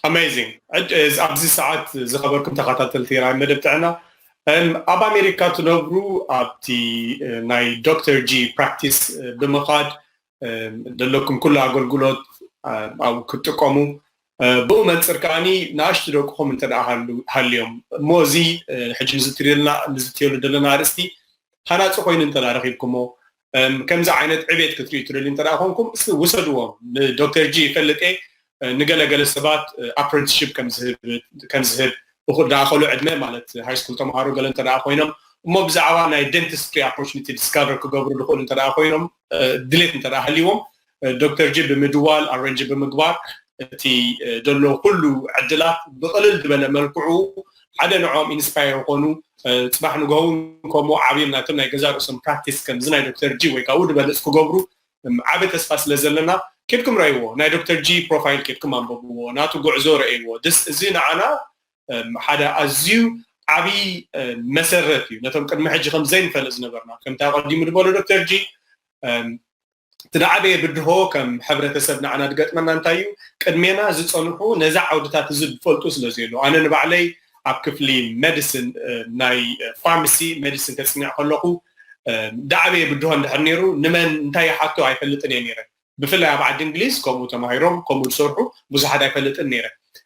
ኣሜዚንግ ኣብዚ ሰዓት ዝኸበርኩም ተኸታተልቲ ራይ መደብ ጥዕና ኣብ ኣሜሪካ ትነብሩ ኣብቲ ናይ ዶክተር ጂ ፕራክቲስ ብምኻድ ዘለኩም ኩሉ ኣገልግሎት ኣብኡ ክትጥቀሙ ብኡ መንፅር ከዓኒ ንኣሽቱ ደቅኹም እንተ ሃልዮም እሞ እዚ ሕጂ ንዝትርልና ንዝትየሉ ዘለና ኣርእስቲ ሃናፂ ኮይኑ እንተ ረኪብኩሞ ከምዚ ዓይነት ዕቤት ክትሪኡ ትደልዩ እንተ ኮንኩም እስኪ ውሰድዎ ንዶክተር ጂ ይፈልጥ እየ ንገለገለ ሰባት ኣፕረንትሽፕ ከምዝህብ እኹል ዳኣኸሉ ዕድመ ማለት ሃይስኩል ተምሃሮ ገለ እንተ ኮይኖም እሞ ብዛዕባ ናይ ደንቲስትሪ ኣፖርቹኒቲ ዲስካቨር ክገብሩ ዝኽእሉ እንተ ኮይኖም ድሌት እንተ ሃልይዎም ዶክተር ጅ ብምድዋል ኣረንጅ ብምግባር እቲ ዘሎ ኩሉ ዕድላት ብቕልል ዝበለ መልክዑ ሓደ ንዕኦም ኢንስፓየር ዝኾኑ ፅባሕ ንግሆ ከምኡ ዓብዮም ናቶም ናይ ገዛ ርእሶም ፕራክቲስ ከምዚ ናይ ዶክተር ጂ ወይ ካብኡ ድበልፅ ክገብሩ ዓበ ተስፋ ስለ ዘለና ኬድኩም ረእይዎ ናይ ዶክተር ጂ ፕሮፋይል ኬድኩም ኣንበብዎ ናቱ ጉዕዞ ረእይዎ እዚ ንዓና ሓደ ኣዝዩ ዓብዪ መሰረት እዩ ነቶም ቅድሚ ሕጂ ከም ዘይንፈልጥ ዝነበርና ከምቲ ኣቐዲሙ ድበሎ ዶክተር ጂ እቲ ዝዓበየ ብድሆ ከም ሕብረተሰብ ንዓና ዝገጥመና እንታይ እዩ፣ ቅድሜና ዝጸንሑ ነዚ ዓውድታት እዚ ዝፈልጡ ስለ ዘየለዉ። ኣነ ንባዕለይ ኣብ ክፍሊ መድስን ናይ ፋርማሲ መድስን ከጽንዕ ከለኹ ዝዓበየ ብድሆ እንድሕር ነይሩ ንመን እንታይ ይሓቶ ኣይፈልጥን እየ ነይረ። ብፍላይ ኣብ ዓዲ እንግሊዝ ከምኡ ተማሂሮም ከምኡ ዝሰርሑ ብዙሓት ኣይፈልጥን ነይረ።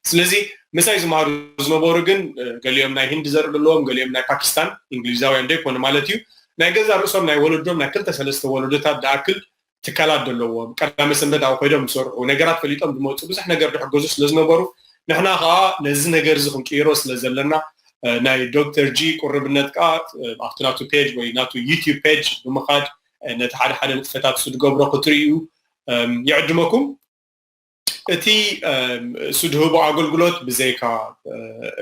ስለዚ ምሳይ ዝመሃሩ ዝነበሩ ግን ገሊኦም ናይ ህንዲ ዘርኢ ዘለዎም ገሊኦም ናይ ፓኪስታን እንግሊዛውያን ዶ ይኮኑ ማለት እዩ ናይ ገዛ ርእሶም ናይ ወለዶም ናይ ክልተ ሰለስተ ወለዶታት ድኣክል ትካላት ዘለዎም ቀዳመ ሰንበት ኣብኡ ኮይዶም ዝሰርሑ ነገራት ፈሊጦም ዝመፁ ብዙሕ ነገር ድሕገዙ ስለ ዝነበሩ ንሕና ከዓ ነዚ ነገር እዚ ክንቅይሮ ስለ ዘለና ናይ ዶክተር ጂ ቁርብነት ከዓ ኣብቲ ናቱ ፔጅ ወይ ናቱ ዩቲብ ፔጅ ብምኻድ ነቲ ሓደ ሓደ ንጥፈታት ዝገብሮ ክትርእዩ ይዕድመኩም እቲ ስድህቦ ኣገልግሎት ብዘይካ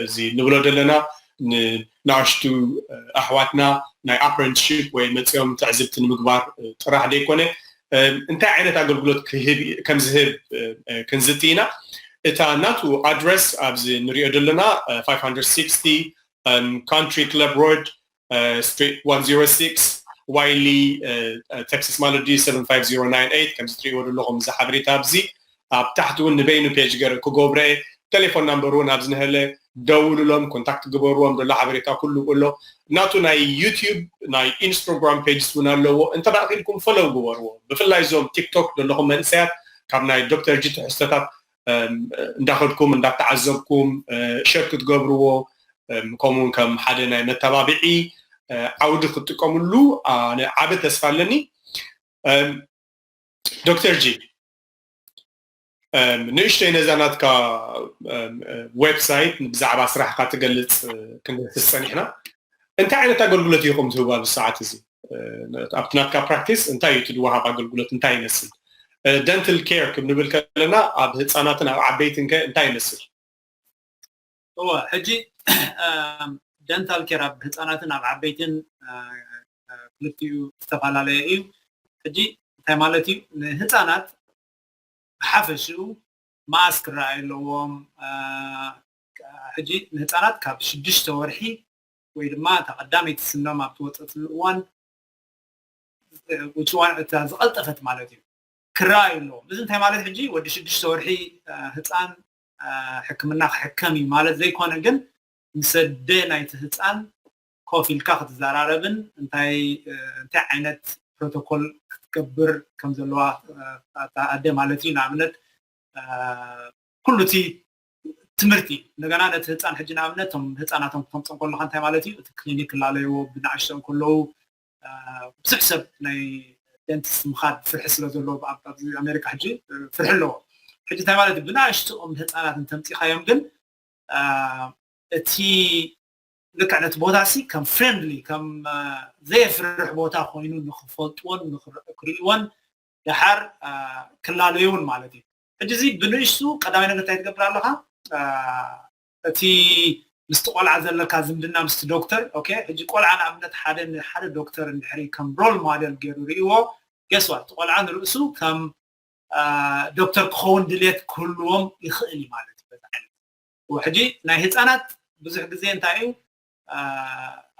እዚ ንብሎ ዘለና ንናኣሽቱ ኣሕዋትና ናይ ኣፕረንትሺፕ ወይ መጺኦም ትዕዝብቲ ንምግባር ጥራሕ ዘይኮነ እንታይ ዓይነት ኣገልግሎት ከም ዝህብ ክንዝቲ ኢና እታ ናቱ ኣድረስ ኣብዚ ንሪኦ ዘለና 560 ካንትሪ ክለብ ሮድ ስትሪት 106 ዋይሊ ተክሲስ ማለት ድዩ 75098 ከምዚ ትሪእዎ ዘለኹም እዚ ሓበሬታ ኣብዚ ኣብ ታሕቲ እውን ንበይኑ ፔጅ ገረ ክገብረ ቴሌፎን ናምበር እውን ኣብዚ ንሀለ ደውሉሎም ኮንታክት ግበርዎም ዘሎ ሓበሬታ ኩሉ ኣሎ ናቱ ናይ ዩትዩብ ናይ ኢንስታግራም ፔጅስ እውን ኣለዎ እንተ ክኢልኩም ፈለው ግበርዎ ብፍላይ እዞም ቲክቶክ ዘለኹም መንእሰያት ካብ ናይ ዶክተር ጂ ትሕዝቶታት እንዳኸድኩም እንዳተዓዘብኩም ሸር ክትገብርዎ ከምኡ ውን ከም ሓደ ናይ መተባብዒ ዓውዲ ክትጥቀምሉ ኣነ ዓቢ ተስፋ ኣለኒ ዶክተር ጂ ንእሽተይ ነዛ ናትካ ዌብሳይት ብዛዕባ ስራሕካ ትገልፅ ክንደስስ ፀኒሕና እንታይ ዓይነት ኣገልግሎት ኢኹም ትህቡ ኣብዚ ሰዓት እዚ ኣብቲ ናትካ ፕራክቲስ እንታይ እዩ እቲ ድወሃብ ኣገልግሎት እንታይ ይመስል ደንትል ኬር ክብ ንብል ከለና ኣብ ህፃናትን ኣብ ዓበይትን ከ እንታይ ይመስል እወ ሕጂ ደንታል ኬር ኣብ ህፃናትን ኣብ ዓበይትን ክልቲኡ ዝተፈላለየ እዩ ሕጂ እንታይ ማለት እዩ ንህፃናት ብሓፈሽኡ መኣስ ክረኣዩ ኣለዎም ሕጂ ንህፃናት ካብ ሽዱሽተ ወርሒ ወይ ድማ እታ ቀዳመይቲ ስኖም ኣብ ትወጸትሉ እዋን ውጽዋን እታ ዝቐልጠፈት ማለት እዩ ክረኣዩ ኣለዎም እዚ እንታይ ማለት ሕጂ ወዲ ሽዱሽተ ወርሒ ህፃን ሕክምና ክሕከም እዩ ማለት ዘይኮነ ግን ምስ ኣደ ናይቲ ህፃን ኮፍ ኢልካ ክትዘራረብን እንታይ እንታይ ዓይነት ፕሮቶኮል ክትገብር ከም ዘለዋ ኣደ ማለት እዩ ንኣብነት ኩሉ እቲ ትምህርቲ እንደገና ነቲ ህፃን ሕጂ ንኣብነት እቶም ህፃናቶም ክተምፅኦም ከለካ እንታይ ማለት እዩ እቲ ክሊኒክ ክላለይዎ ብናእሽተኡ ከለዉ ብዙሕ ሰብ ናይ ደንቲስት ምኻድ ፍርሒ ስለ ዘለዎ ኣብዚ ኣሜሪካ ሕጂ ፍርሒ ኣለዎ ሕጂ እንታይ ማለት እዩ ብናእሽተኦም ህፃናት እንተምፂኻዮም ግን እቲ ልክዕ ነቲ ቦታ ሲ ከም ፍሬንድሊ ከም ዘየፍርሕ ቦታ ኮይኑ ንክፈልጥዎን ንክርእይዎን ደሓር ክላለዩን ማለት እዩ ሕጂ እዚ ብንእሽቱ ቀዳማይ ነገር እንታይ ትገብር ኣለኻ እቲ ምስቲ ቆልዓ ዘለካ ዝምድና ምስቲ ዶክተር ኦኬ ሕጂ ቆልዓ ንኣብነት ሓደ ንሓደ ዶክተር እንድሕሪ ከም ሮል ሞዴል ገይሩ ርእይዎ ገስዋ እቲ ቆልዓ ንርእሱ ከም ዶክተር ክኸውን ድሌት ክህልዎም ይኽእል እዩ ማለት እዩ በዚ ዓይነት ሕጂ ናይ ህፃናት ብዙሕ ግዜ እንታይ እዩ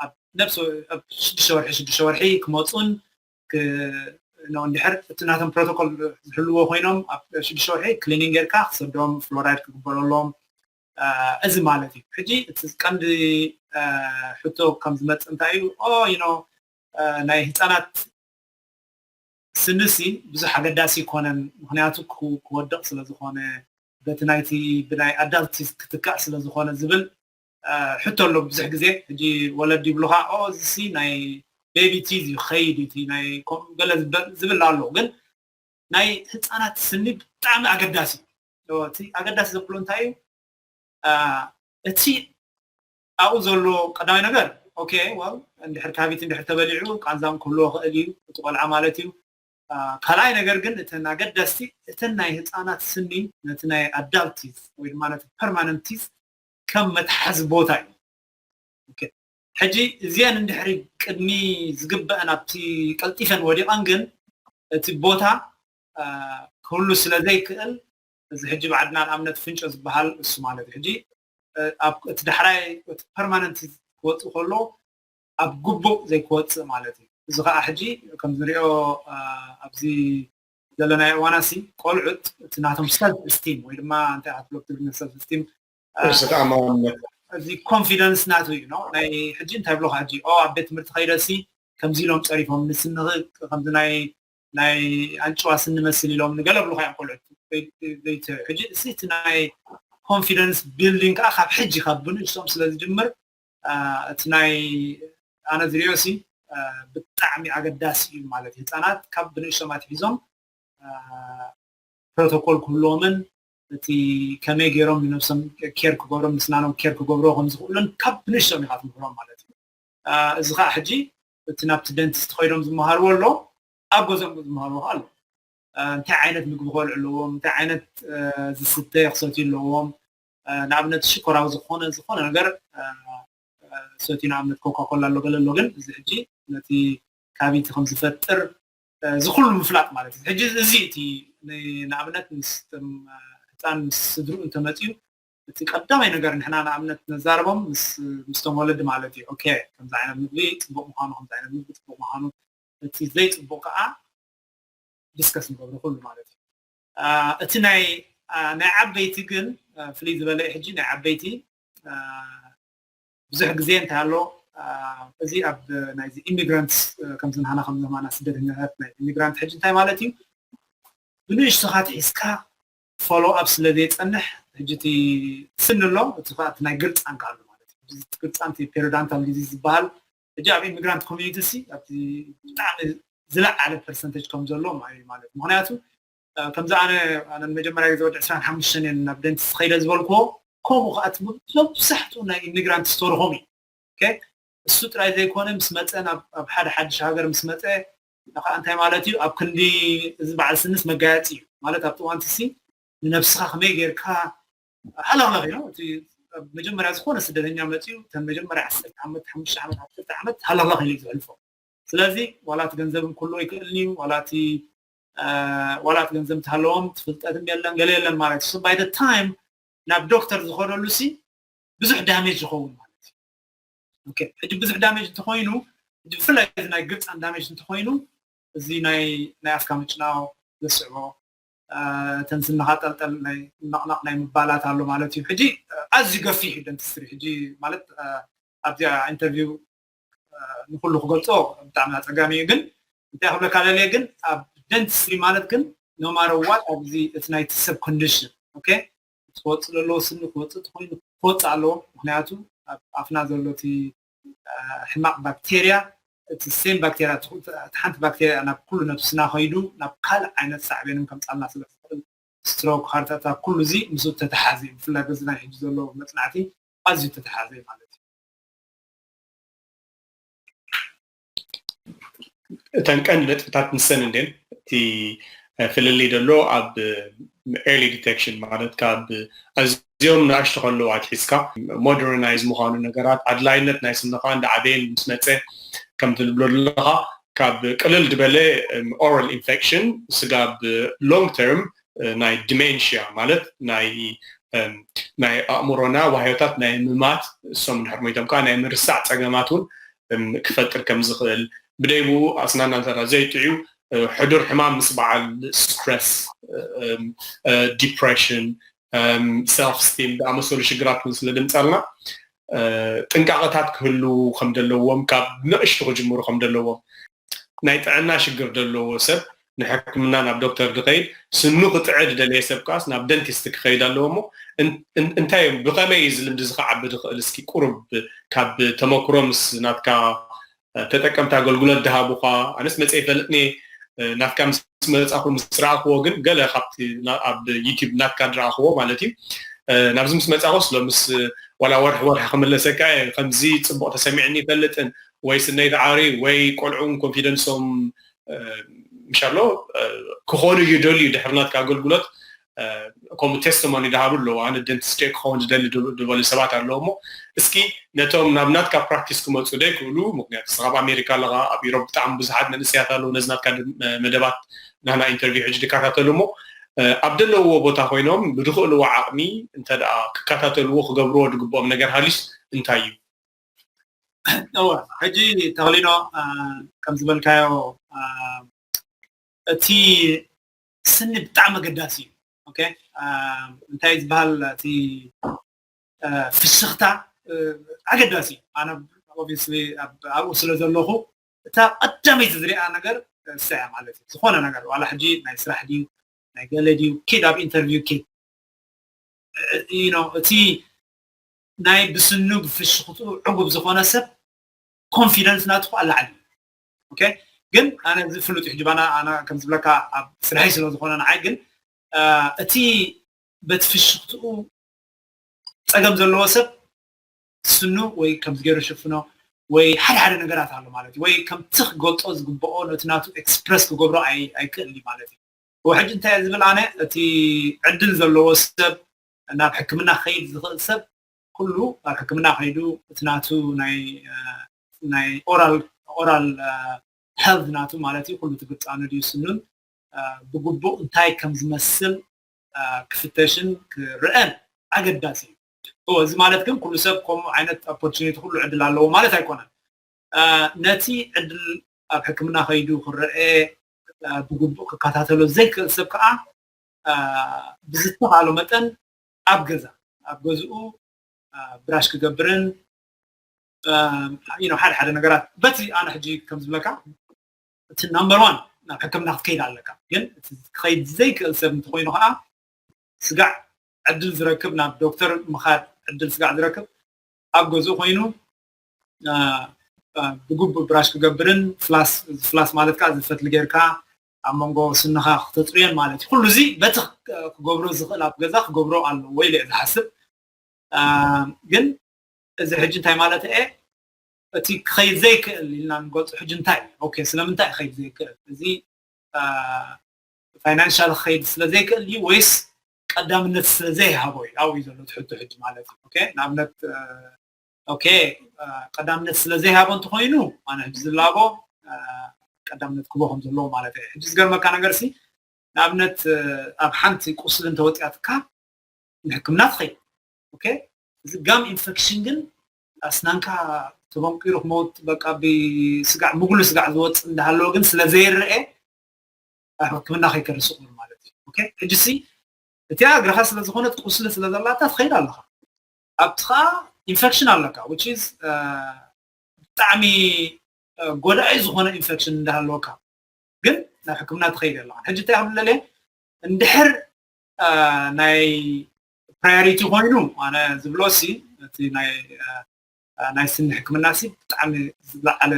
ኣብ ነብሲ ኣብ ሽዱሽተ ወርሒ ሽዱሽተ ወርሒ ክመፁን እንድሕር እቲ ናቶም ፕሮቶኮል ዝሕልዎ ኮይኖም ኣብ ሽዱሽተ ወርሒ ክሊኒንግ ጌርካ ክሰዶም ፍሎራይድ ክግበረሎም እዚ ማለት እዩ ሕጂ እቲ ቀንዲ ሕቶ ከም ዝመፅእ እንታይ እዩ ኦ ይኖ ናይ ህፃናት ስንሲ ብዙሕ ኣገዳሲ ይኮነን ምክንያቱ ክወድቕ ስለ ዝኾነ በቲ ናይቲ ብናይ ኣዳልት ክትካእ ስለ ዝኾነ ዝብል ሕቶ ኣሎ ብዙሕ ግዜ ሕጂ ወለዲ ይብሉካ ኦ እዚሲ ናይ ቤቢ ቲዝ እዩ ክኸይድ እዩ እቲ ናይ ከምኡ ገለ ዝብል ኣሎ ግን ናይ ህፃናት ስኒ ብጣዕሚ ኣገዳሲ እዩ እቲ ኣገዳሲ ዘብሎ እንታይ እዩ እቲ ኣብኡ ዘሎ ቀዳማይ ነገር ኦኬ ዋው እንድሕር ካቢት እንድሕር ተበሊዑ ቃንዛም ክህልዎ ክእል እዩ እቲ ቆልዓ ማለት እዩ ካልኣይ ነገር ግን እተን ኣገዳስቲ እተን ናይ ህፃናት ስኒ ነቲ ናይ ኣዳልቲዝ ወይ ድማ ነቲ ፐርማነንቲዝ ከም መትሓዚ ቦታ እዩ ሕጂ እዚአን እንድሕሪ ቅድሚ ዝግበአን ኣብቲ ቀልጢፈን ወዲቐን ግን እቲ ቦታ ክህሉ ስለ ዘይክእል እዚ ሕጂ ባዕድና ንኣብነት ፍንጮ ዝበሃል እሱ ማለት እዩ ሕጂ እቲ ዳሕራይ እቲ ፐርማነንት ክወፅእ ከሎ ኣብ ግቡእ ዘይክወፅእ ማለት እዩ እዚ ከዓ ሕጂ ከም ዝሪኦ ኣብዚ ዘለናዮ እዋና ሲ ቆልዑት እቲ ናቶም ሰልፍ እስቲም ወይ ድማ እንታይ ኣትሎ ትግርኛ ሰልፍ እስቲም እዚ ኮንፊደንስ ናቱ እዩ ነው ናይ ሕጂ እንታይ ብሎካ ሕጂ ኦ ኣብ ቤት ትምህርቲ ከይደሲ ከምዚ ኢሎም ጸሪፎም ንስኒ ከምዚ ናይ ናይ ኣንጭዋ ስኒ መስል ኢሎም ንገለ ብሉካ እዮም ቆልዑት ሕጂ እቲ ናይ ኮንፊደንስ ቢልዲንግ ከዓ ካብ ሕጂ ካብ ብንእሶም ስለ ዝጅምር እቲ ናይ ኣነ ዝሪኦ ሲ ብጣዕሚ ኣገዳሲ እዩ ማለት እዩ ህፃናት ካብ ብንእሽቶም ኣትሒዞም ፕሮቶኮል ክህልዎምን እቲ ከመይ ገይሮም ንነብሶም ኬር ክገብሮም ንስናኖም ኬር ክገብሮ ከም ዝኽእሉን ካብ ብንእሽቶም ኢኻ ትምህሮም ማለት እዩ እዚ ከዓ ሕጂ እቲ ናብቲ ደንቲስት ከይዶም ዝመሃርዎ ኣሎ ኣብ ገዝኦም ዝመሃርዎ ኣሎ እንታይ ዓይነት ምግቢ ከልዑ ኣለዎም እንታይ ዓይነት ዝስተ ክሰትዩ ኣለዎም ንኣብነት ሽኮራዊ ዝኾነ ዝኾነ ነገር ሰትዩ ንኣብነት ኮካኮላ ኣሎ ገለ ኣሎ ግን እዚ ሕጂ ነቲ ካቢንቲ ከም ዝፈጥር እዚ ኩሉ ምፍላጥ ማለት እዩ ሕጂ እዚ እቲ ንኣብነት ምስ ህፃን ምስ ስድርኡ እንተመፅዩ እቲ ቀዳማይ ነገር ንሕና ንኣብነት ነዛርቦም ምስቶም ወለዲ ማለት እዩ ኦኬ ከምዚ ዓይነት ምግቢ ፅቡቅ ምኳኑ ከምዚ ዓይነት ምግቢ ፅቡቅ ምኳኑ እቲ ዘይፅቡቅ ከዓ ዲስከስ ንገብሮ ኩሉ ማለት እዩ እቲ ናይ ናይ ዓበይቲ ግን ፍልይ ዝበለ እዩ ሕጂ ናይ ዓበይቲ ብዙሕ ግዜ እንታይ ኣሎ እዚ ኣብ ናይዚ ኢሚግራንትስ ከምዚ ንሃና ከም ዘማና ስደተኛታት ናይ ኢሚግራንት ሕጂ እንታይ ማለት እዩ ብንእሽቶኻ ትሒዝካ ፎሎ ኣብ ስለ ዘይፀንሕ ሕጂ እቲ ስኒ ኣሎ እቲ ናይ ግርፃንካ ኣሎ ማለት እዩ ግርፃን እቲ ፔሪዳንታል ዲዚዝ ዝበሃል ሕጂ ኣብ ኢሚግራንት ኮሚኒቲ ሲ ኣብቲ ብጣዕሚ ዝለዓለ ፐርሰንተጅ ከም ዘለዎም ኣዩ ማለት ምክንያቱ ከምዚ ኣነ ኣነ መጀመርያ ግዜ ወዲ ዕስራን ሓሙሽተን እየን ናብ ደንቲስ ከይደ ዝበልክዎ ከምኡ ከዓ እቲ መብዛሕትኡ ናይ ኢሚግራንት ስተርሆም እዩ እሱ ጥራይ ዘይኮነ ምስ መፀ ናብ ሓደ ሓድሽ ሃገር ምስ መፀ ከዓ እንታይ ማለት እዩ ኣብ ክንዲ እዚ በዓል ስንስ መጋየፂ እዩ ማለት ኣብቲ እዋንቲ ሲ ንነብስኻ ከመይ ጌርካ ዓላማ ገይሩ እቲ መጀመርያ ዝኾነ ስደተኛ መፅኡ እተን መጀመርያ ዓሰርተ ዓመት ሓሙሽተ ዓመት ዓሰርተ ዓመት ሃላዋኽ ኢሉ ዘሕልፎ ስለዚ ዋላ እቲ ገንዘብ እንክሎ ይክእልኒ እዩ ዋላ እቲ ዋላ እቲ ገንዘብ እንተሃለዎም እቲ ፍልጠትም የለን ገለ የለን ማለት እዩ ባይ ታይም ናብ ዶክተር ዝኸደሉ ሲ ብዙሕ ዳሜጅ ይኸውን ማለት እዩ ኦኬ ሕጂ ብዙሕ ዳሜጅ እንተኮይኑ ብፍላይ እዚ ናይ ግብፃን ዳሜጅ እንተኮይኑ እዚ ናይ ናይ ኣፍካ ምጭናው ዘስዕቦ እተን ስንኻ ጠልጠል ናይ ነቕነቕ ናይ ምባላት ኣሎ ማለት እዩ ሕጂ ኣዝዩ ገፊሕ እዩ ደንቲስትሪ ሕጂ ማለት ኣብዚኣ ኢንተርቪው ንኹሉ ክገልጾ ብጣዕሚ ኣጸጋሚ እዩ ግን እንታይ ክብለካ ደልየ ግን ኣብ ደንቲስትሪ ማለት ግን ኖማረዋት ኣብዚ እቲ ናይቲ ሰብ ኮንዲሽን ኦኬ ክወጽእ ዘለዎ ስኒ ክወጽእ ተኾይኑ ክወጽእ ኣለዎ ምክንያቱ ኣብ ኣፍና ዘሎ እቲ ሕማቕ ባክቴርያ እቲ ሴም ባክቴርያ እቲ ሓንቲ ባክቴርያ እያ ናብ ኩሉ ነብስና ከይዱ ናብ ካልእ ዓይነት ሳዕቤን እውን ከምጻልና ስለ ትኽእል ስትሮክ ሃርት ኣታክ ኩሉ እዚ ምስኡ እተተሓዘ እዩ ብፍላይ በዚ ናይ ሕጂ ዘሎ መጽናዕቲ ኣዝዩ እተተሓዘ እዩ ማለት እዩ። እተን ቀንዲ ነጥብታት ንሰን እንድን እቲ ፍልልይ ደሎ ኣብ ኤርሊ ዲቴክሽን ማለት ካብ ኣዝዮም ንኣሽቱ ከለዉ ኣትሒዝካ ሞደርናይዝ ምዃኑ ነገራት ኣድላይነት ናይ ስንኻ እንዳዓበየን ምስ መፀ ከም ትብሎ ዘለኻ ካብ ቅልል ዝበለ ኦራል ኢንፌክሽን ስጋብ ሎንግ ተርም ናይ ዲሜንሽያ ማለት ናይ ናይ ኣእምሮና ዋህዮታት ናይ ምማት እሶም ድሕር ሞይቶም ከዓ ናይ ምርሳዕ ፀገማት እውን ክፈጥር ከም ዝኽእል፣ ብደይ ብኡ ኣስናንና እንተ ዘይጥዕዩ ሕዱር ሕማም ምስ በዓል ስትረስ፣ ዲፕረሽን፣ ሰልፍ ስቲም ዝኣመሰሉ ሽግራት እውን ስለ ዘምጸልና ጥንቃቐታት ክህልዉ ከም ዘለዎም ካብ ንእሽቱ ክጅምሩ ከም ዘለዎም ናይ ጥዕና ሽግር ደለዎ ሰብ ንሕክምና ናብ ዶክተር ድኸይድ ስኑ ክጥዐ ድደለየ ሰብ ከኣስ ናብ ደንቲስት ክኸይድ ኣለዎ እሞ እንታይ እዮም ብኸመይ እዩ እዚ ልምዲ እዚ ክዓቢ ድኽእል እስኪ ቁሩብ ካብ ተመክሮ ምስ ናትካ ተጠቀምቲ ኣገልግሎት ድሃቡኻ ኣነስ መጸ ይፈልጥኒየ ናትካ ምስ መጻኹ ምስ ረኣኽዎ ግን ገለ ካብቲ ኣብ ዩቲብ ናትካ ድረኣኽዎ ማለት እዩ ናብዚ ምስ መጻኹስ ሎምስ ዋላ ወርሒ ወርሒ ክምለሰካ እየ ከምዚ ጽቡቕ ተሰሚዕኒ ይፈልጥን ወይ ስነይ ዳዓሪ ወይ ቆልዑን ኮንፊደንሶም ምሻሎ ክኾኑ ይደልዩ ድሕሪ ናትካ ኣገልግሎት ከምኡ ቴስቶሞኒ ድሃቡ ኣለዉ ኣነ ደንቲስት እየ ክኸውን ዝደሊ ድበሉ ሰባት ኣለዉ እሞ እስኪ ነቶም ናብ ናትካ ፕራክቲስ ክመፁ ደይክእሉ ምክንያቱ እስኻ ኣብ ኣሜሪካ ኣለኻ ኣብ ኢሮብ ብጣዕሚ ብዙሓት መንእሰያት ኣለዉ ነዚ ናትካ መደባት ናህና ኢንተርቪው ሕጂ ድከታተሉ እሞ ኣብ ደለውዎ ቦታ ኮይኖም ብድኽእልዎ ዓቕሚ እንተ ክከታተልዎ ክገብርዎ ድግብኦም ነገር ሃልዩስ እንታይ እዩ እወ ሕጂ ተኽሊኖ ከም ዝበልካዮ እቲ ስኒ ብጣዕሚ ኣገዳሲ እዩ ኦኬ እንታይ ዝበሃል እቲ ፍሽኽታ ኣገዳሲ እዩ ኣነ ኦብስሊ ኣብኡ ስለ ዘለኹ እታ ቀዳመይቲ ዝሪኣ ነገር እሳ እያ ማለት እዩ ዝኾነ ነገር ዋላ ሕጂ ናይ ስራሕ ድዩ ናይ ገለ ድዩ ኪድ ኣብ ኢንተርቪው ኪድ እቲ ናይ ብስኑግ ፍሽኽትኡ ዕጉብ ዝኾነ ሰብ ኮንፊደንስ ናቱ ከዓ ላዕሊ እዩ ኦኬ ግን ኣነ እዚ ፍሉጥ እዩ ሕጅባና ኣነ ከም ዝብለካ ኣብ ስርሐይ ስለ ዝኾነ ንዓይ ግን እቲ በቲ ፍሽኽትኡ ፀገም ዘለዎ ሰብ ስኑ ወይ ከምዚ ገይሩ ሽፍኖ ወይ ሓደ ሓደ ነገራት ኣሎ ማለት እዩ ወይ ከምቲ ክገልጦ ዝግብኦ ነቲ ናቱ ኤክስፕረስ ክገብሮ ኣይክእል ማለት እዩ ሕጂ እንታይ ዝብል ኣነ እቲ ዕድል ዘለዎ ሰብ ናብ ሕክምና ክኸይድ ዝኽእል ሰብ ኩሉ ኣብ ሕክምና ከይዱ እቲ ናቱ ናይ ኦራል ሄልዝ ናቱ ማለት እዩ ኩሉ ትግጣኑ ድዩ ስኑን ብግቡእ እንታይ ከም ዝመስል ክፍተሽን ክረአን ኣገዳሲ እዩ እዚ ማለት ግን ኩሉ ሰብ ከምኡ ዓይነት ኦፖርቹኒቲ ኩሉ ዕድል ኣለዎ ማለት ኣይኮነን ነቲ ዕድል ኣብ ሕክምና ከይዱ ክረአ ብግቡእ ክከታተሎ ዘይክእል ሰብ ከዓ ብዝተኻእሎ መጠን ኣብ ገዛ ኣብ ገዝኡ ብራሽ ክገብርን ሓደ ሓደ ነገራት በቲ ኣነ ሕጂ ከም ዝብለካ እቲ ናምበር ዋን ናብ ሕክምና ክትከይድ ኣለካ ግን እቲ ክኸይድ ዘይክእል ሰብ እንተኮይኑ ከዓ ስጋዕ ዕድል ዝረክብ ናብ ዶክተር ምኻድ ዕድል ስጋዕ ዝረክብ ኣብ ገዝኡ ኮይኑ ብግቡእ ብራሽ ክገብርን ፍላስ ፍላስ ማለት ከዓ ዝፈትሊ ጌርካ ኣብ መንጎ ስንኻ ክተጽርዮን ማለት እዩ ኩሉ እዚ በቲ ክገብሮ ዝኽእል ኣብ ገዛ ክገብሮ ኣለዎ ኢለ ዝሓስብ ግን እዚ ሕጂ እንታይ ማለት እየ እቲ ክኸይድ ዘይክእል ኢልና ንገልፆ ሕጂ እንታይ እዩ ኦኬ ስለምንታይ ክኸይድ ዘይክእል እዚ ፋይናንሻል ክኸይድ ስለ ዘይክእል እዩ ወይስ ቀዳምነት ስለ ዘይሃቦ እዩ ኣብኡ እዩ ዘሎ ትሕቶ ሕጂ ማለት እዩ ኦኬ ንኣብነት ኦኬ ቀዳምነት ስለ ዘይሃቦ እንተኮይኑ ኣነ ሕጂ ዝላቦ ቀዳምነት ክቦ ከም ዘለዎ ማለት እዩ ሕጂ ዝገርመካ ነገር ሲ ንኣብነት ኣብ ሓንቲ ቁስሊ እንተወጢያትካ ንሕክምና ትኸይድ ኦኬ እዚ ጋም ኢንፌክሽን ግን ኣስናንካ ተበንቂሩ ክመውት በቃ ብስጋዕ ምጉሉ ስጋዕ ዝወፅ እንዳሃለዎ ግን ስለ ዘይረአ ኣብ ሕክምና ከይከርስቕ ማለት እዩ ኦኬ ሕጂ ሲ እቲኣ እግርኻ ስለ ዝኾነት ቁስሊ ስለ ዘላታ ትኸይድ ኣለኻ ኣብትኻ ኢንፈክሽን ኣለካ which is ብጣዕሚ ጎዳኢ ዝኾነ ኢንፈክሽን እንዳሃለወካ ግን ናብ ሕክምና ትኸይድ ኣለኻ ሕጂ እንታይ ክብል ለለ እንድሕር ናይ ፕራዮሪቲ ኮይኑ ኣነ ዝብሎ ሲ እቲ ናይ ናይ ስኒ ሕክምና ሲ ብጣዕሚ ዝለዓለ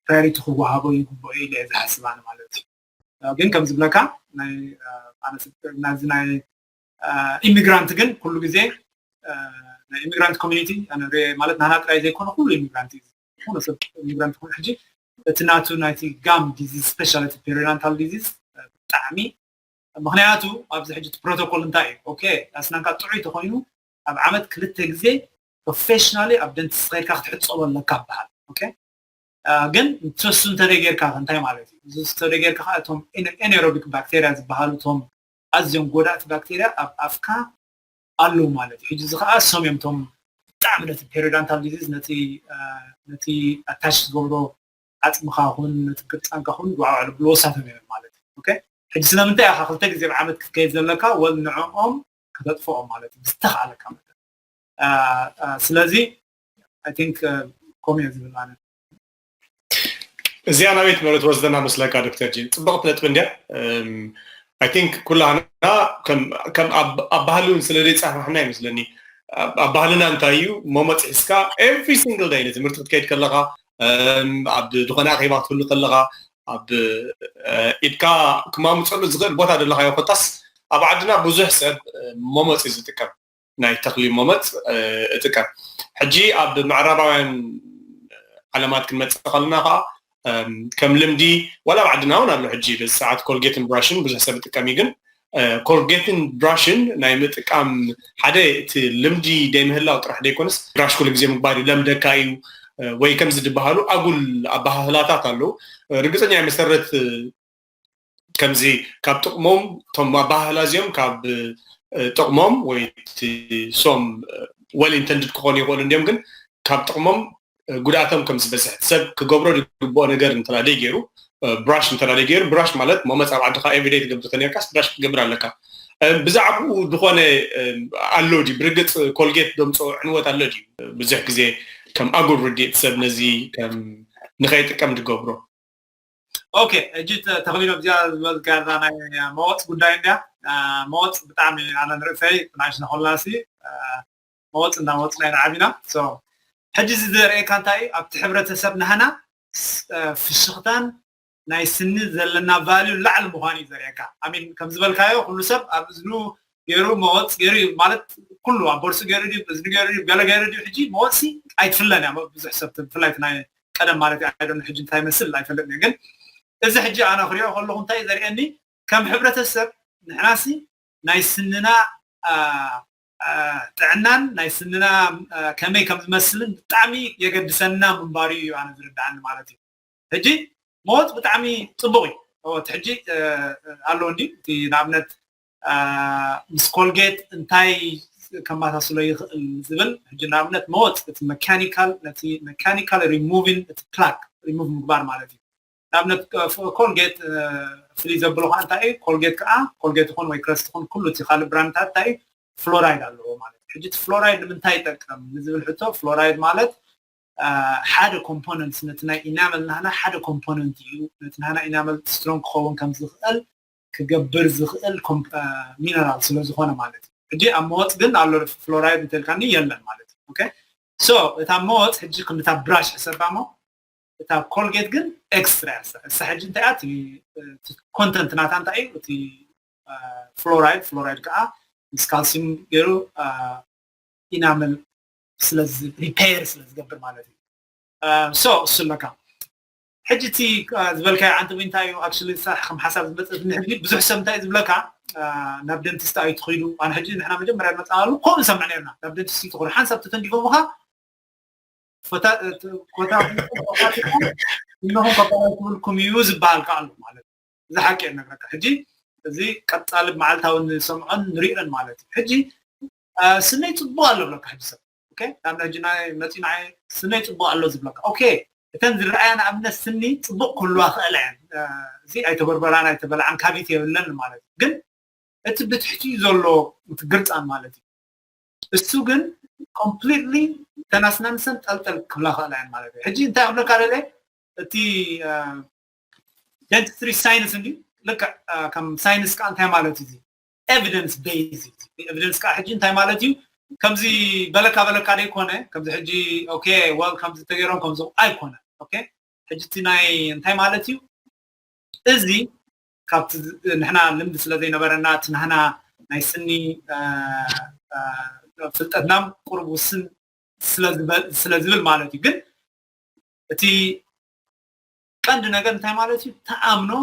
ፕራዮሪቲ ክወሃቦ ይግብኦ ኢለ እየ ዝሓስብ ኣነ ማለት እዩ ግን ከም ዝብለካ ናይ ኣነ ናዚ ናይ ኢሚግራንት ግን ኩሉ ግዜ ናይ ኢሚግራንት ኮሚኒቲ ማለት ናህና ጥራይ ዘይኮነ ኩሉ ኢሚግራንት እዩ ዝኾነ ሰብ ኢሚግራንት ኮይኑ ሕጂ እቲ ናቱ ናይቲ ጋም ዲዚዝ ስፔሻሊቲ ፔሪናንታል ዲዚዝ ብጣዕሚ ምክንያቱ ኣብዚ ሕጂ እቲ ፕሮቶኮል እንታይ እዩ ኦኬ ኣስናንካ ጥዑይ ተኮይኑ ኣብ ዓመት ክልተ ግዜ ፕሮፌሽናሊ ኣብ ደንቲስ ከይድካ ክትሕፀቦ ኣለካ በሃል ኦኬ ግን ንሱ እንተደይ ጌርካ እንታይ ማለት እዩ እዚ እንተደይ ጌርካ እቶም ኤኔሮቢክ ባክቴሪያ ዝበሃሉ እቶም ኣዝዮም ጎዳእቲ ባክተርያ ኣብ ኣፍካ ኣለው ማለት እዩ። ሕጂ እዚ ከኣ እሶም እዮም እቶም ብጣዕሚ ነቲ ፔሪዳንታል ዲዚዝ ነቲ ነቲ ኣታች ዝገብሮ ዓጽምኻ ኹን ነቲ ቅርጻንካ ኹን ጓዕጓዕ ዘብልዎ እሳቶም እዮም ማለት እዩ። ኦኬ ሕጂ ስለምንታይ ኢኻ ክልተ ግዜ ኣብ ዓመት ክትከይድ ዘለካ ወል ንዕኦም ከተጥፍኦም ማለት እዩ ብዝተኻእለካ መጠን ስለዚ ኣይ ቲንክ ከምኡ እየ ዝብል ኣነ። እዚኣ ናበይት መረ ትወስደና መስለካ ዶክተር ጂን ፅብቕቲ ነጥቢ እንድያ ኣይ ቲንክ ኩላና ከም ኣብ ባህሊ እውን ስለ ዘይፃፋሕና ይመስለኒ ኣብ ባህልና እንታይ እዩ መሞፅ ሒዝካ ኤቭሪ ሲንግል ዳይ ንትምህርቲ ክትከይድ ከለካ ኣብ ዝኾነ ኣኼባ ክትህሉ ከለካ ኣብ ኢድካ ክማምፀሉ ዝኽእል ቦታ ዘለካዮ ኮታስ ኣብ ዓድና ብዙሕ ሰብ መሞፂ ዝጥቀም ናይ ተኽሊ ሞመፅ እጥቀም ሕጂ ኣብ ምዕራባውያን ዓለማት ክንመፅእ ከለና ከዓ ከም ልምዲ ዋላ ኣብ ዓድና እውን ኣሎ ሕጂ በዚ ሰዓት ኮልጌትን ብራሽን ብዙሕ ሰብ ይጥቀም እዩ ግን ኮልጌትን ብራሽን ናይ ምጥቃም ሓደ እቲ ልምዲ ደይምህላው ጥራሕ ደይኮነስ ብራሽ ኩሉ ግዜ ምግባር እዩ ለምደካ እዩ ወይ ከምዚ ዝበሃሉ ኣጉል ኣበሃህላታት ኣለዉ ርግፀኛ መሰረት ከምዚ ካብ ጥቕሞም እቶም ኣበሃህላ እዚኦም ካብ ጥቕሞም ወይ ሶም ወል ኢንተንድድ ክኾኑ ይኽእሉ እንዲዮም ግን ካብ ጥቕሞም ጉድኣቶም ከም ዝበዝሕ ሰብ ክገብሮ ዝግብኦ ነገር እንተ ደይገይሩ ብራሽ እንተ ደይገይሩ ብራሽ ማለት ሞመፅ ኣብ ዓድኻ ኤቭሪደይ ትገብር ተነርካስ ብራሽ ክትገብር ኣለካ ብዛዕባኡ ዝኾነ ኣሎ ድዩ ብርግፅ ኮልጌት ደምፆ ዕንወት ኣሎ ድዩ ብዙሕ ግዜ ከም ኣጉል ርድኢት ሰብ ነዚ ከም ንኸይጥቀም ዝገብሮ ኦኬ እጂ ተክሊኖ እዚኣ ዝበልካ እዛ ናይ መወፅ ጉዳይ እንድያ መወፅ ብጣዕሚ ኣነ ንርእሰይ ናሽና ኮላሲ መወፅ እናመወፅና ኢና ዓቢና ሕጂ እዚ ዘርእየካ እንታይ እዩ ኣብቲ ሕብረተሰብ ናህና ፍሽኽታን ናይ ስኒ ዘለና ቫልዩ ላዕሊ ምዃኑ እዩ ዘርእየካ ኣሚን ከም ዝበልካዮ ኩሉ ሰብ ኣብ እዝኑ ገይሩ መወፅ ገይሩ እዩ ማለት ኩሉ ኣብ ቦርሲ ገይሩ ድዩ እዝኒ ገይሩ ድዩ ገለ ገይሩ ድዩ ሕጂ መወፅሲ ኣይትፍለን እያ ብዙሕ ሰብ ብፍላይ ናይ ቀደም ማለት እዩ ኣይደን ሕጂ እንታይ ይመስል ኣይፈልጥን እየ ግን እዚ ሕጂ ኣነ ክሪኦ ከለኹ እንታይ ዘርእየኒ ከም ሕብረተሰብ ንሕናሲ ናይ ስንና ጥዕናን ናይ ስንና ከመይ ከም ዝመስልን ብጣዕሚ የገድሰና ምንባሩ እዩ ኣነ ዝርድኣኒ ማለት እዩ ሕጂ ሞት ብጣዕሚ ፅቡቕ እዩ እቲ ሕጂ ኣለዎ እንዲ እቲ ንኣብነት ምስ ኮልጌት እንታይ ከመሳስሎ ይኽእል ዝብል ሕጂ ንኣብነት መወፅ እቲ መካኒካል ነቲ መካኒካል ሪሙቪን እቲ ፕላክ ሪሙቭ ምግባር ማለት እዩ ንኣብነት ኮልጌት ፍልይ ዘብሎ ከዓ እንታይ እዩ ኮልጌት ከዓ ኮልጌት ይኹን ወይ ክረስት ይኹን ኩሉ እቲ ካልእ ብራንድታት እንታይ እዩ ፍሎራይድ ኣለዎ ማለት እዩ ሕጂ እቲ ፍሎራይድ ንምንታይ ይጠቀም ንዝብል ሕቶ ፍሎራይድ ማለት ሓደ ኮምፖነንት ነቲ ናይ ኢናመል ናህና ሓደ ኮምፖነንት እዩ ነቲ ናህና ኢናመል ስትሮንግ ክኸውን ከም ዝኽእል ክገብር ዝኽእል ሚነራል ስለ ዝኾነ ማለት እዩ ሕጂ ኣብ መወፅ ግን ኣሎ ፍሎራይድ እንተልካኒ የለን ማለት እዩ ኦኬ ሶ እታ መወፅ ሕጂ ክንታ ብራሽ ሕሰባ እሞ እታ ኮልጌት ግን ኤክስትራ እሳ ሕጂ እንታይ እቲ ኮንተንት ናታ እንታይ እዩ እቲ ፍሎራይድ ፍሎራይድ ከዓ ምስ ካልሲም ገይሩ ኢናመል ስለዚ ሪፔር ስለ ዝገብር ማለት እዩ ሶ እሱ ኣለካ ሕጂ እቲ ዝበልካዮ ዓንተቢ እንታይ እዩ ኣክሽሊ ዝሰርሓኩም ሓሳብ ዝመጸትኒ ሕጂ ብዙሕ ሰብ እንታይ እዩ ዝብለካ ናብ ደንቲስት ኣይትኺዱ ኣነ ሕጂ ንሕና መጀመርያ ንመጻናሉ ከምኡ ንሰምዕ ነርና ናብ ደንቲስት ይትኹዱ ሓንሳብ ተተንዲፎምኻ ኮታ እነኹም ከበላይ ክብልኩም እዩ ዝበሃል ከዓ ኣሎ ማለት እዚ ሓቂ እየ ነግረካ ሕጂ እዚ ቀጻሊ መዓልታዊ ንሰምዖን ንሪኦን ማለት እዩ ሕጂ ስነይ ጽቡቅ ኣሎ ብለካ ሕጂ ሰብ ኦኬ ካብ ሕጂ ናይ መጺ ንዓይ ስነይ ጽቡቅ ኣሎ ዝብለካ ኦኬ እተን ዝረኣያ ንኣብነት ስኒ ጽቡቅ ክህልዋ ክእለ እየን እዚ ኣይተበርበራን ኣይተበልዓን ካቢት የብለን ማለት እዩ ግን እቲ ብትሕቲኡ ዘሎ እቲ ግርጻን ማለት እዩ እሱ ግን ኮምፕሊትሊ ተናስናንሰን ጠልጠል ክብላ ክእላ እየን ማለት እዩ ሕጂ እንታይ ክብለካ ደለ እቲ ደንትስትሪ ሳይንስ እንዲ ልክዕ ከም ሳይንስ ከዓ እንታይ ማለት እዩ ኤቪደንስ ቤዝ ኤቪደንስ ከዓ ሕጂ እንታይ ማለት እዩ ከምዚ በለካ በለካ ደይኮነ ከምዚ ሕጂ ኦኬ ወል ከምዚ ተገይሮም ከምዚ ኣይኮነ ኦኬ ሕጂ እቲ ናይ እንታይ ማለት እዩ እዚ ካብቲ ንሕና ልምዲ ስለ ዘይነበረና እቲ ናህና ናይ ስኒ ፍልጠትና ቁሩብ ውስን ስለ ዝብል ማለት እዩ ግን እቲ ቀንዲ ነገር እንታይ ማለት እዩ ተኣምኖ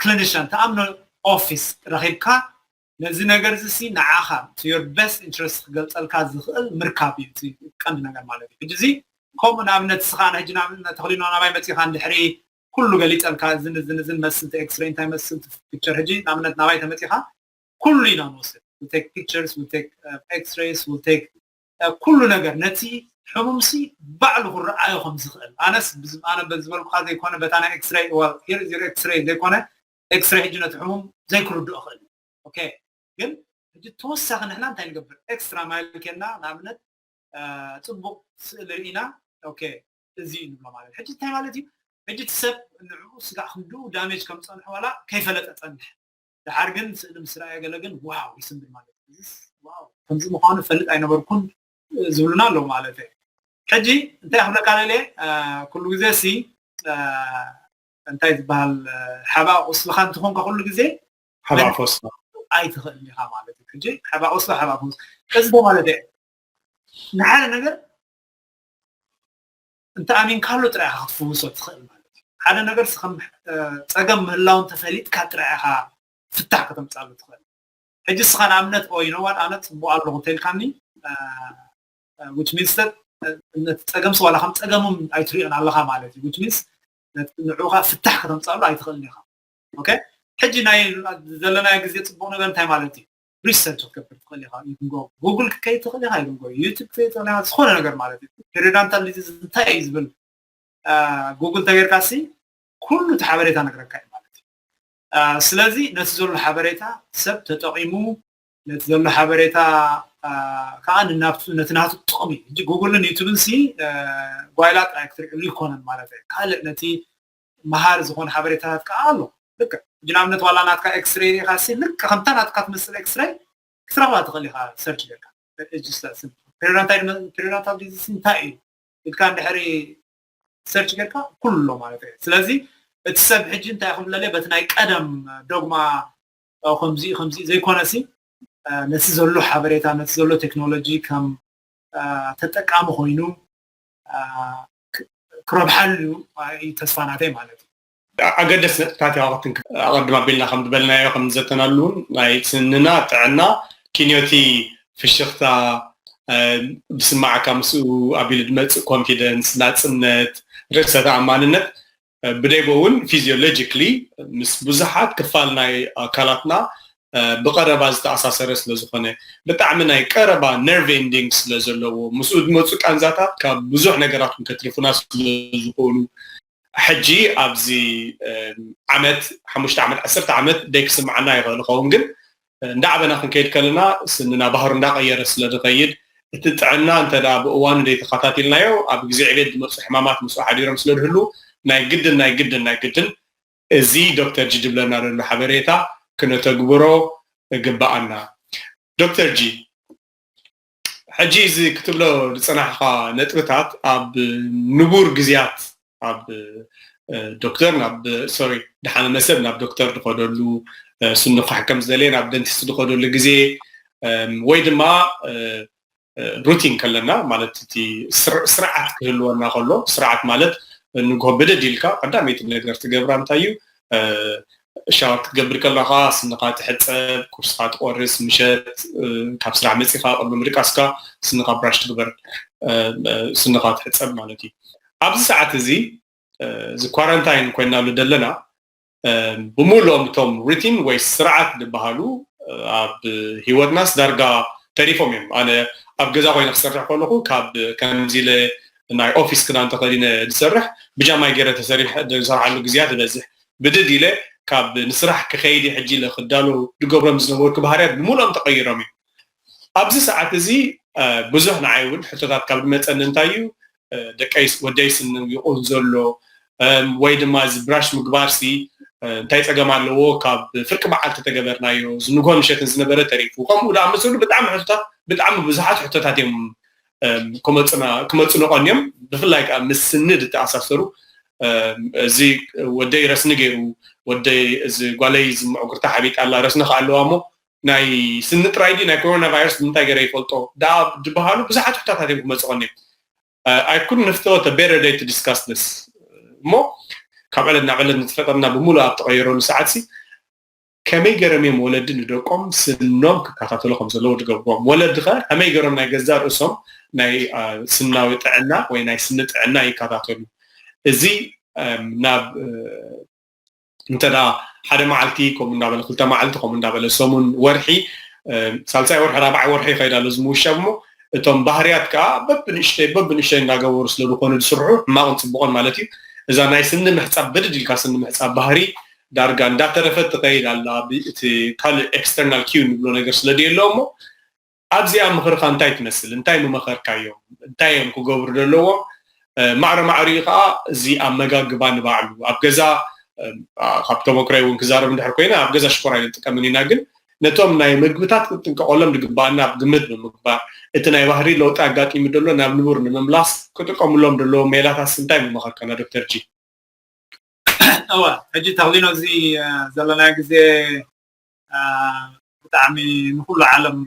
ክሊኒሻን ትኣምኖ ኦፊስ ረኺብካ ነዚ ነገር እዚ ሲ ንዓኻ to your best interest ክገልጸልካ ዝኽእል ምርካብ እዩ እቲ ቀንዲ ነገር ማለት እዩ ሕጂ እዚ ከምኡ ንኣብነት እስኻ ሕጂ ንኣብነት ተኽሊኖ ናባይ መጺኻ እንድሕሪ ኩሉ ገሊጸልካ እዝን እዝን እዝን መስል እቲ ኤክስሬይ እንታይ መስል እቲ ፒክቸር ሕጂ ንኣብነት ናባይ ተመጺኻ ኩሉ ኢና ንወስድ we take pictures we take uh, x-rays we take ኩሉ ነገር ነቲ ሕሙምሲ ባዕሉ ክረኣዮ ከም ዝኽእል ኣነስ ኣነ ዝበልኩኻ ዘይኮነ በታ ናይ ኤክስረይ well here is your ኤክስረይ ዘይኮነ ኤክስረይ ሕጂ ነቲ ሕሙም ዘይክርድኦ ይኽእል እዩ ኦኬ ግን ሕጂ ተወሳኺ ንሕና እንታይ ንገብር ኤክስትራ ማይል ኬንና ንኣብነት ጽቡቕ ስእሊ ርኢና ኦኬ እዚ እዩ ንብሎ ማለት ሕጂ እንታይ ማለት እዩ ሕጂ እቲ ሰብ ንዕኡ ስጋዕ ክንድኡ ዳሜጅ ከም ጸንሖ ዋላ ከይፈለጠ ጸንሐ ደሓር ግን ስእሊ ምስ ረኣየ ገለ ግን ዋው ይስምብል ማለት እዩ እዚስ ዋው ከምዚ ምዃኑ እፈልጥ ኣይነበርኩን ዝብሉና ኣለዉ ማለት እዩ ሕጂ እንታይ ክብለካ ደልየ ኩሉ ግዜ ሲ እንታይ ዝበሃል ሓባ ቁስልኻ እንትኾንካ ኩሉ ግዜ ሓባ ቁስላ ኣይትኽእል ኢኻ ማለት እዩ ሕጂ ሓባ ቁስላ ሓባ ቁስ እዚ ማለት እዩ ንሓደ ነገር እንተ ኣሚንካሉ ጥራይ ኢኻ ክትፍውሶ እትኽእል ማለት እዩ። ሓደ ነገርስ ከም ጸገም ምህላዉ እንተ ፈሊጥካ ጥራይ ኢኻ ፍታሕ ከተምጽኣሉ እትኽእል። ሕጂ እስኻ ንኣብነት ኦይ ዩ ኖው ዋት ኣነ ጽቡቕ ኣለኹ እንተ ኢልካኒ ዊች ሚንስ ዳት ነቲ ጸገምሲ ዋላ ከም ጸገምም ኣይትሪኦን ኣለኻ ማለት እዩ ዊች ሚንስ ንዕኡ ከኣ ፍታሕ ከተምጽኣሉ ኣይትኽእልን ኢኻ ኦኬ ሕጂ ናይ ዘለናዮ ግዜ ጽቡቕ ነገር እንታይ ማለት እዩ ሪሰርች ክትገብር ትኽእል ኢኻ ኢቭን ጎ ጉግል ክትከይድ ትኽእል ኢኻ ኢቭን ጎ ዩቱብ ክትከይድ ትኽእል ኢኻ ዝኾነ ነገር ማለት እዩ ፔሪዳንታል ዲዚዝ እንታይ እዩ ዝብል ጉግል ተገይርካ ሲ ኩሉ እቲ ሓበሬታ ነግረካ እዩ ማለት እዩ ስለዚ ነቲ ዘሎ ሓበሬታ ሰብ ተጠቂሙ ነቲ ዘሎ ሓበሬታ ከዓ ንናብቱ ነቲ ናቱ ጥቕሚ ሕጂ ጉግልን ዩቱብን ሲ ጓይላ ጥራይ ክትሪዕሉ ይኮነን ማለት እዩ ካልእ ነቲ መሃሪ ዝኾኑ ሓበሬታታት ከኣ ኣሎ ልክዕ ሕጂ ንኣብነት ዋላ ናትካ ኤክስሬይ ሪኢኻ ሲ ልክዕ ከምታ ናትካ ትመስል ኤክስሬይ ክትረኽባ ትኽእል ኢኻ ሰርች ጌርካ ፔሪናታይድ ፔሪናታል ዲዚስ እንታይ እዩ ኢልካ እንድሕሪ ሰርች ጌርካ ኩሉ ኣሎ ማለት እዩ ስለዚ እቲ ሰብ ሕጂ እንታይ ክብለለይ በቲ ናይ ቀደም ዶግማ ከምዚ ከምዚ ዘይኮነሲ ነቲ ዘሎ ሓበሬታ ነቲ ዘሎ ቴክኖሎጂ ከም ተጠቃሚ ኮይኑ ክረብሓሉ እዩ ዩ ተስፋ ናተይ ማለት እዩ። ኣገደስቲ ነጥብታት እያ ቅድም ኣቢልና ከም ዝበልናዮ ከም ዝዘተናሉ እውን ናይ ስንና ጥዕና ኪንዮ እቲ ፍሽኽታ ዝስማዓካ ምስኡ ኣቢሉ ዝመፅእ ኮንፊደንስ፣ ናፅነት፣ ርእሰ ተኣማንነት ብደቦ እውን ፊዚዮሎጂክሊ ምስ ብዙሓት ክፋል ናይ ኣካላትና ብቐረባ ዝተኣሳሰረ ስለ ዝኾነ ብጣዕሚ ናይ ቀረባ ነርቭ ኤንዲንግ ስለ ዘለዎ ምስኡ ዝመፁ ቃንዛታት ካብ ብዙሕ ነገራት እውን ከትርፉና ስለ ዝኾኑ ሕጂ ኣብዚ ዓመት ሓሙሽተ ዓመት ዓሰርተ ዓመት ደይክስምዓና ይኽእል ይኸውን ግን እንዳዓበና ክንከይድ ከለና ስንና ባህሩ እንዳቐየረ ስለ ዝኸይድ እቲ ጥዕና እንተ ብእዋኑ ዘይተኸታቲልናዮ ኣብ ግዜ ዕቤት ዝመጹ ሕማማት ምስኡ ሓዲሮም ስለ ዝህልዉ ናይ ግድን ናይ ግድን ናይ ግድን እዚ ዶክተር ጂ ዝብለና ዘሎ ሓበሬታ ክነተግብሮ እግበኣና። ዶክተር ጂ! ሕጂ እዚ ክትብሎ ዝጸናሕኻ ነጥብታት ኣብ ንቡር ግዝያት ኣብ ዶክተር ናብ ሶሪ ድሓመመ ሰብ ናብ ዶክተር ዝኸደሉ ስኑ ክሕከም ዝደለየ ናብ ደንቲስት ዝኸደሉ ግዜ ወይ ድማ ሩቲን ከለና ማለት እቲ ስርዓት ክህልወና ከሎ ስርዓት ማለት ንግሆ ብድድ ኢልካ ቀዳመይቲ ነገር ትገብራ እንታይ እዩ ሻወር ክትገብር ከለኻ ስንኻ ትሕፀብ፣ ቁርስኻ ትቆርስ፣ ምሸት ካብ ስራሕ መፂኻ ቅድሚ ምድቃስካ ስንኻ ብራሽ ትግበር፣ ስንኻ ትሕፀብ ማለት እዩ። ኣብዚ ሰዓት እዚ እዚ ኳራንታይን ኮይናሉ ዘለና ብምሉኦም እቶም ሩቲን ወይ ስርዓት ዝበሃሉ ኣብ ሂወትናስ ዳርጋ ተሪፎም እዮም። ኣነ ኣብ ገዛ ኮይነ ክሰርሕ ከለኹ ካብ ከምዚ ኢለ ናይ ኦፊስ ክዳን ተኸዲነ ዝሰርሕ ብጃማይ ገይረ ተሰሪሐ ዝሰርሓሉ ግዝያት ይበዝሕ ብድድ ኢለ ካብ ንስራሕ ክኸይድ እየ ሕጂ ኢለ ክዳሎ ዝገብሮም ዝነበርኩ ባህርያት ብምልኦም ተቐይሮም እዮም ኣብዚ ሰዓት እዚ ብዙሕ ንዓይ እውን ሕቶታት ካብ ዝመፀኒ እንታይ እዩ ደቀይስ ወደይስ ይቑን ዘሎ ወይ ድማ እዚ ብራሽ ምግባርሲ እንታይ ፀገም ኣለዎ ካብ ፍርቂ በዓል ተተገበርናዮ ዝንጎ ምሸትን ዝነበረ ተሪፉ ከምኡ ዳኣመሰሉ ብጣዕሚ ሕቶታት ብጣዕሚ ብዙሓት ሕቶታት እዮም ክመፁ ነቐን እዮም ብፍላይ ከዓ ምስ ስኒ ዝተኣሳሰሩ እዚ ወደይ ረስኒ ገይሩ ወደይ እዚ ጓለይ እዚ ምዕጉርታ ሓቢጣ ኣላ ረስኒ ከዓ ኣለዋ እሞ ናይ ስኒ ጥራይ ድዩ ናይ ኮሮና ቫይረስ ብምንታይ ገይረ ይፈልጦ ደኣ ዝበሃሉ ብዙሓት ሕቶታት እዮም ክመፁ ቀን እዮም ኣይ ኩድ ንፍተወት ቤረር ደይ ቱ ዲስካስ ስ እሞ ካብ ዕለት ናብ ዕለት ንተፈጠርና ብምሉእ ኣብ ተቐየረሉ ሰዓት ሲ ከመይ ገይሮም እዮም ወለዲ ንደቆም ስኖም ክከታተሉ ከም ዘለዎ ዝገብርዎም ወለዲ ከ ከመይ ገይሮም ናይ ገዛ ርእሶም ናይ ስናዊ ጥዕና ወይ ናይ ስኒ ጥዕና ይከታተሉ እዚ ናብ እንተ ሓደ መዓልቲ ከምኡ እንዳበለ ክልተ መዓልቲ ከምኡ እንዳበለ ሰሙን ወርሒ ሳልሳይ ወርሒ ራብዓይ ወርሒ ይኸይድ ኣሎ እዚ ምውሻብ እሞ እቶም ባህርያት ከዓ በብንእሽተይ በብንእሽተይ እንዳገበሩ ስለ ዝኾኑ ዝስርሑ ሕማቕን ፅቡቕን ማለት እዩ እዛ ናይ ስኒ ምሕፃብ ብድድ ኢልካ ስኒ ምሕፃብ ባህሪ ዳርጋ እንዳተረፈት ትኸይድ ኣላ ብ እቲ ካልእ ኤክስተርናል ኪው ንብሎ ነገር ስለ ደየሎ እሞ ኣብዚኣ ምኽርኻ እንታይ ትመስል እንታይ ምመኸርካዮም እንታይ እዮም ክገብሩ ደለዎም ማዕረ ማዕሪኡ ከኣ እዚ ኣመጋግባ ንባዕሉ ኣብ ገዛ ካብ ተመክሮይ እውን ክዛረብ እንድሕር ኮይነ ኣብ ገዛ ሽኮር ኣይንጥቀምን ኢና ግን ነቶም ናይ ምግብታት ክንጥንቀቐሎም ዝግባኣና ኣብ ግምት ብምግባር እቲ ናይ ባህሪ ለውጢ ኣጋጢሙ ደሎ ናብ ንቡር ንምምላስ ክጥቀምሎም ደለዎም ሜላታትስ እንታይ ምመኸርካና ዶክተር ጂ እወ ሕጂ ተክሊኖዚ ዘለናዮ ግዜ ብጣዕሚ ንኩሉ ዓለም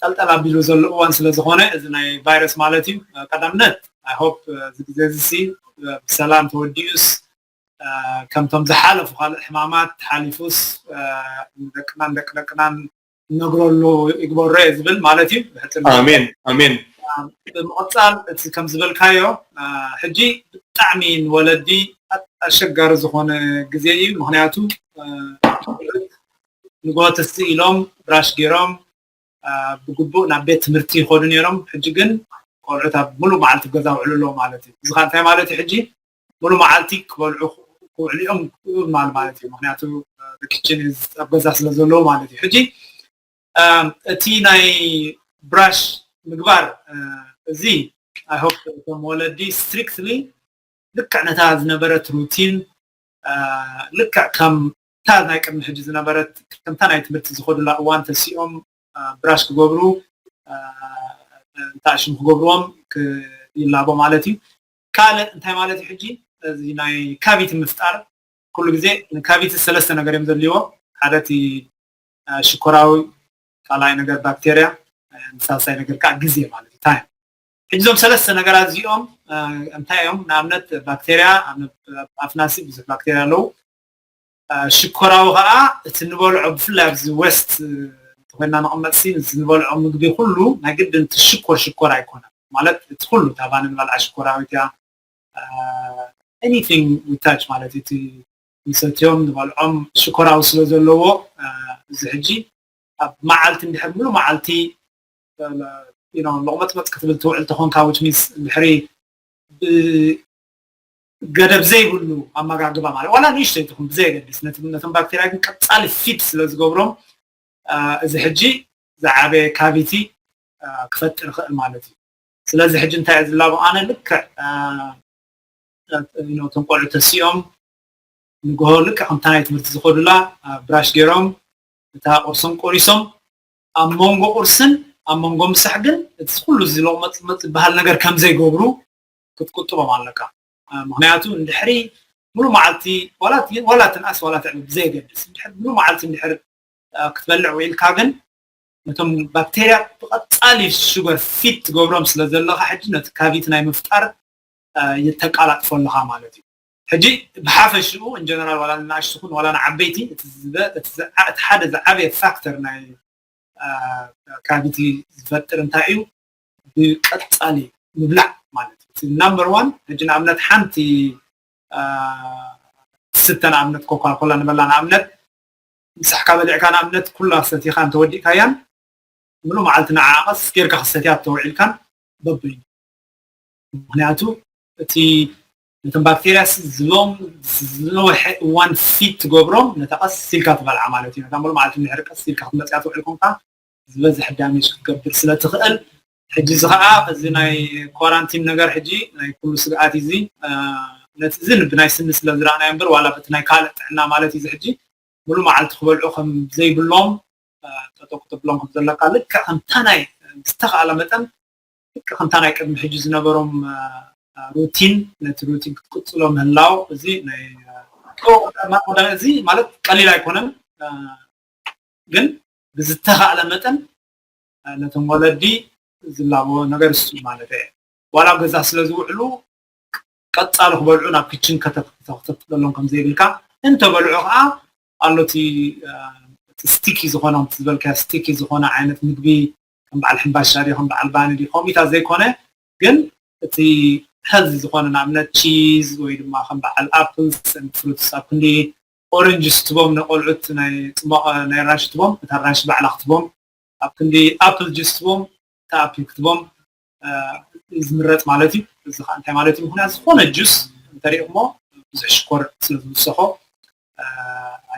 ጠልጠል ኣቢሉ ዘሎ እዋን ስለ ዝኮነ እዚ ናይ ቫይረስ ማለት እዩ ቀዳምነት ኣይ ሆፕ እዚ ግዜ እዚ ሲ ብሰላም ተወዲኡስ ከምቶም ዝሓለፉ ካልእ ሕማማት ሓሊፉስ ንደቅናን ደቂ ደቅናን ነግረሉ ይግበሮ እየ ዝብል ማለት እዩ ኣሜን ኣሜን ብምቕፃል እቲ ከም ዝበልካዮ ሕጂ ብጣዕሚ ንወለዲ ኣሸጋሪ ዝኾነ ግዜ እዩ ምክንያቱ ንጎት እስቲ ኢሎም ብራሽ ገይሮም ብግቡእ ናብ ቤት ትምህርቲ ይኸዱ ነይሮም ሕጂ ግን ቆልዑት ኣብ ሙሉእ መዓልቲ ገዛ ውዕሉ ኣለዉ ማለት እዩ እዚ ከዓ እንታይ ማለት እዩ ሕጂ ሙሉ መዓልቲ ክበልዑ ክውዕሉ እዮም ማል ማለት እዩ ምክንያቱ ኪችን ኣብ ገዛ ስለ ዘለዎ ማለት እዩ ሕጂ እቲ ናይ ብራሽ ምግባር እዚ ኣይ ሆፕ እቶም ወለዲ ስትሪክትሊ ልክዕ ነታ ዝነበረት ሩቲን ልክዕ ከም እታ ናይ ቅድሚ ሕጂ ዝነበረት ከምታ ናይ ትምህርቲ ዝኸዱላ እዋን ተሲኦም ብራሽ ክገብሩ እንታይ ሽም ክገብርዎም ይላቦ ማለት እዩ ካልእ እንታይ ማለት እዩ ሕጂ እዚ ናይ ካቪቲ ምፍጣር ኩሉ ግዜ ንካቪቲ ሰለስተ ነገር እዮም ዘድልይዎ ሓደ እቲ ሽኮራዊ ካልኣይ ነገር ባክቴርያ ንሳልሳይ ነገር ከዓ ግዜ ማለት እዩ ታይም ሕጂ እዞም ሰለስተ ነገራት እዚኦም እንታይ እዮም ንኣብነት ባክቴርያ ኣብ ኣፍናሲ ብዙሕ ባክቴርያ ኣለዉ ሽኮራዊ ከኣ እቲ ንበልዖ ብፍላይ ኣብዚ ወስት እንተኮይና ንቅመጥሲ እዚ ንበልዖ ምግቢ ኩሉ ናይ ግድን እቲ ሽኮር ሽኮር ኣይኮነን ማለት እቲ ኩሉ እታ ባኒ ንበልዓ ሽኮራዊት እያ anything we touch ማለት እዩ እቲ ንሰትዮም ንበልዖም ሽኮራዊ ስለ ዘለዎ እዚ ሕጂ ኣብ መዓልቲ እንድሕር ሙሉ መዓልቲ you know ሎቅመጽመጽ ክትብል ትውዕል ተኾንካ which means እንድሕሪ ገደብ ዘይብሉ ኣመጋግባ ማለት ዋላ ንእሽተይ ትኹን ብዘየገድስ ነቶም ባክቴርያ ግን ቀፃሊ ፊድ ስለ ዝገብሮም እዚ ሕጂ ዝዓበየ ካቪቲ ክፈጥር ይኽእል ማለት እዩ ስለዚ ሕጂ እንታይ እዩ ዝላቦ ኣነ ልክዕ እቶም ቆልዑ ተሲኦም ንግሆ ልክዕ ከምታ ናይ ትምህርቲ ዝኸዱላ ብራሽ ገይሮም እታ ቁርሶም ቆሪሶም ኣብ መንጎ ቁርስን ኣብ መንጎ ምሳሕ ግን እቲ ኩሉ ዝለቕመፅመፅ ዝበሃል ነገር ከም ዘይገብሩ ክትቁጥቦም ኣለካ ምክንያቱ እንድሕሪ ሙሉ መዓልቲ ዋላ ትንኣስ ዋላ ትዕቢ ብዘየገድስ እንድሕር ሙሉ መዓልቲ እንድሕር ክትበልዕ ውዒልካ ግን ነቶም ባክቴርያ ብቐፃሊ ሹገር ፊት ትገብሮም ስለ ዘለኻ ሕጂ ነቲ ካቪቲ ናይ ምፍጣር የተቃላጥፎ ኣለኻ ማለት እዩ ሕጂ ብሓፈሽኡ እንጀነራል ዋላ ንኣሽ ትኹን ዋላ ንዓበይቲ እቲ ሓደ ዝዓበየ ፋክተር ናይ ካቪቲ ዝፈጥር እንታይ እዩ ብቀጻሊ ምብላዕ ማለት እዩ እቲ ናምበር ዋን ሕጂ ንኣብነት ሓንቲ ትስተ ንኣብነት ኮካኮላ ንበላ ንኣብነት ምሳሕካ በሊዕካ ንኣብነት ኩላ ሰቲኻ እንተወዲእካያን ምሉእ መዓልቲ ንዓ ቀስ ጌርካ ክሰትያ ተውዒልካን በበይኑ ምክንያቱ እቲ ነቶም ባክቴርያ ዝሎም ዝነውሐ እዋን ፊት ትገብሮም ነታ ቀስ ኢልካ ትበልዓ ማለት እዩ ነታ ምሉእ መዓልቲ ምሕሪ ቀስ ኢልካ ክትመፅያ ትውዕል ኮንካ ዝበዝሕ ዳሜጅ ክትገብር ስለ ትኽእል ሕጂ እዚ ከዓ እዚ ናይ ኳራንቲን ነገር ሕጂ ናይ ኩሉ ስግኣት እዩ እዚ ነቲ እዚ ብናይ ስኒ ስለ ዝረኣናዮ እምበር ዋላ በቲ ናይ ካልእ ጥዕና ማለት እዩ እዚ ሕጂ ሙሉ መዓልቲ ክበልዑ ከም ዘይብሎም ጠጦ ክትብሎም ከም ዘለካ ልክዕ ከምታ ናይ ዝተኽኣለ መጠን ልክዕ ከምታ ናይ ቅድሚ ሕጂ ዝነበሮም ሩቲን ነቲ ሩቲን ክትቅፅሎ ምህላው እዚ ናይ እዚ ማለት ቀሊል ኣይኮነን ግን ብዝተኻእለ መጠን ነቶም ወለዲ ዝላበዎ ነገር እሱ ማለት እየ ዋላ ኣብ ገዛ ስለ ዝውዕሉ ቀፃሉ ክበልዑ ናብ ክችን ከተተክተክተሎም ከም ዘይብልካ እንተበልዑ ከዓ ኣሎ እቲ ስቲኪ ዝኾነ ከምቲ ዝበልካዮ ስቲኪ ዝኾነ ዓይነት ምግቢ ከም በዓል ሕምባሻ ድዩ ከም በዓል ባኒ ድዩ ከምኢታ ዘይኮነ ግን እቲ ሀዚ ዝኾነ ንኣብነት ቺዝ ወይ ድማ ከም በዓል ኣፕልስ ፍሩትስ ኣብ ክንዲ ኦረንጅስ ትቦም ነቆልዑት ናይ ጽሟቀ ናይ ራሽ ትቦም እታ ራሽ ባዕላ ክትቦም ኣብ ክንዲ ኣፕል ጅስ ትቦም እታ ኣፕል ክትቦም ዝምረጽ ማለት እዩ እዚ ከዓ እንታይ ማለት እዩ ምክንያት ዝኮነ ጁስ እንተሪእኩሞ ብዙሕ ሽኮር ስለ ዝውሰኮ